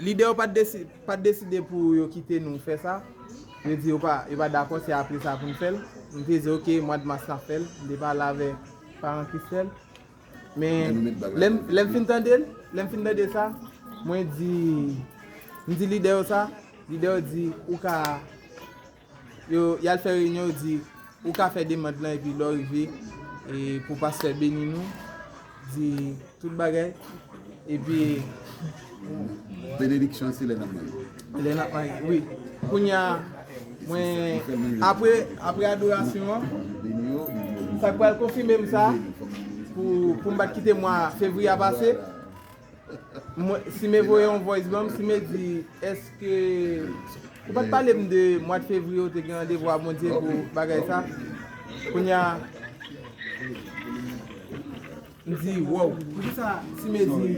Lidè yo pa t deside pou yo kite nou fè sa. Yo di yo pa dakò se apre sa pou n fè l. M te di ok mwad mas n ap fè l. M te pale avèk paran Christelle. Men lè m fin tande l, lè m fin tande sa, mwen di, m di lidè yo sa, lidè yo di ou ka. Yo yal fè reunion yo di ou ka fè demand lan epi lè w rive e pou pastè beni nou di tout bagay epi Benediksyon an se lè nap marye. Lè nap marye wi kounya mwen apre apre adorasyon an sak pral konfimem sa pou poum pat kite mwa fevriye a pase. Mwen Sime voye yon voice banm Sime di eske ou pat palem de mwad fevriye ou te gen randevou a Bondye pou bagay sa kounya m di wow poukisa Sime di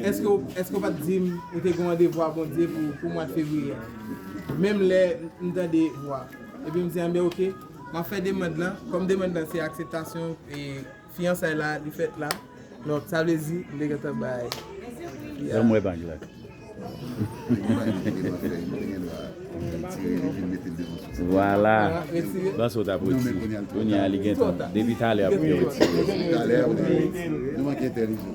eske eske ou pat dim ou te gen randevou a Bondye pou mwad fevriye menm lè m tande vwa epi m di anben ok map fè demand lan kòm demand lan se akseptasyon e. Fiyansay la li fèt la non sa vle di li te gentan bay Pierre. Banm wè bag la. Vwala. Ban sa w tap retire. Kounye a li gentan depi talè ap vle retire. Manke entèlijan.